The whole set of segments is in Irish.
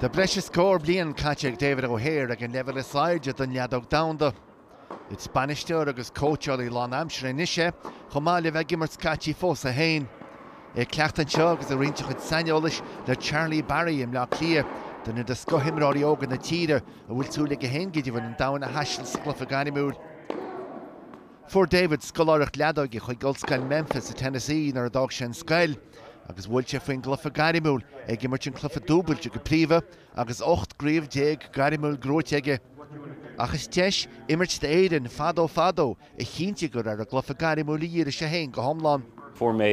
Tá breis is scór bliain caite ag David O'Hare ag an leibhéal is airde den leadóg domhanda. Is bainisteoir agus cóitseálaí lánaimseartha anois é, chomh maith le bheith ag imirt scaití fós é féin. É ag cleachtadh anseo agus ag roinnt a chuid saineolais le Charlie Barry i mBleá Cliath, duine de scothimreoirí óga na tíre a bhfuil súil aige féin go deimhin an domhan a thaisteal sa gcluiche gairmiúil. Fuair David scoláireacht leadóige chuig Ollscoil Memphis i Tennessee nuair a d'fhág sé an scoil, agus bhuail sé faoin gcluiche gairmiúil, é ag imirt an cluiche dúbailte go príomha agus ocht gcraobh déag gairmiúil gnóite aige. Ach is deis imirt d'Éirinn fadó fadó a chinntigh gur ar an gcluiche gairmiúil a dhírigh sé féin go hiomlán. Fuair mé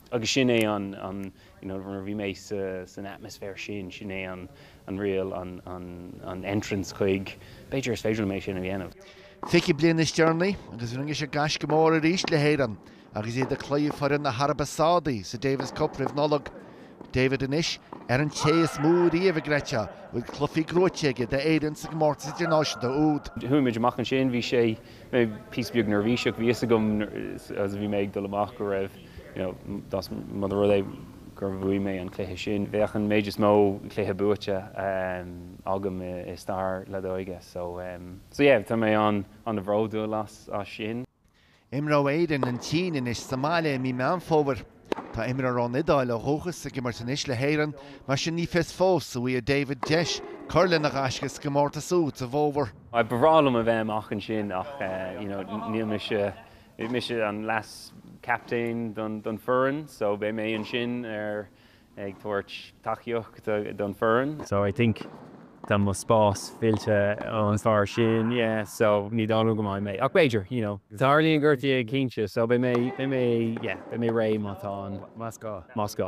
Agus sin é an, an, you know, nuair a bhí mé sa, san atmosphere sin, sin é an, an real, an, an, an entrance chuig, b'fhéidir is féidir liom é sin a dhéanamh. Fiche bliain níos deireanaí agus rinne sé gaisce mór arís le hÉirinn agus iad ag cloí foireann na hAraibe Sádaí sa Davis Cup roimh Nollaig. David anois ar an té is mó riamh, creidtear, a bhfuil cluifí gnóite aige d'Éirinn sa gcomórtas idirnáisiúnta úd. Chuaigh muid amach ansin, bhí sé. mé píosa beag neirbhíseach. Bhí 'fhios agam as a bhí mé ag dul amach go raibh, you know, más mura rud é gur bhuaigh mé an cluiche sin, bheadh an méid is mó cluiche buaite agam i stair leadóige. So, so yeah, tá mé an-bhródúil as sin. Imreoidh Éirinn an tSín anois sa mbaile i mí Meán Fómhair. Tá imreoir ón Iodáil ó dhúchas ag imirt anois le hÉirinn, mar sin ní fios fós a bhfaighidh David deis cur lena ghaisce sa gcomórtas úd sa bhfómhar. Ba bhreá liom a bheith amach ansin ach you know níl mise, mise an leas-captaen don foireann so beidh mé ansin ar ag tabhairt tacaíocht don foireann. So I think tá mo spás fillte ón fear sin, yeah, so ní dóigh liom go mbeidh mé, ach b'fhéidir, you know, tarlaíonn gortaithe go cinnte, so beidh mé, beidh mé, yeah, beidh mé réidh má tá an, más gá, más gá.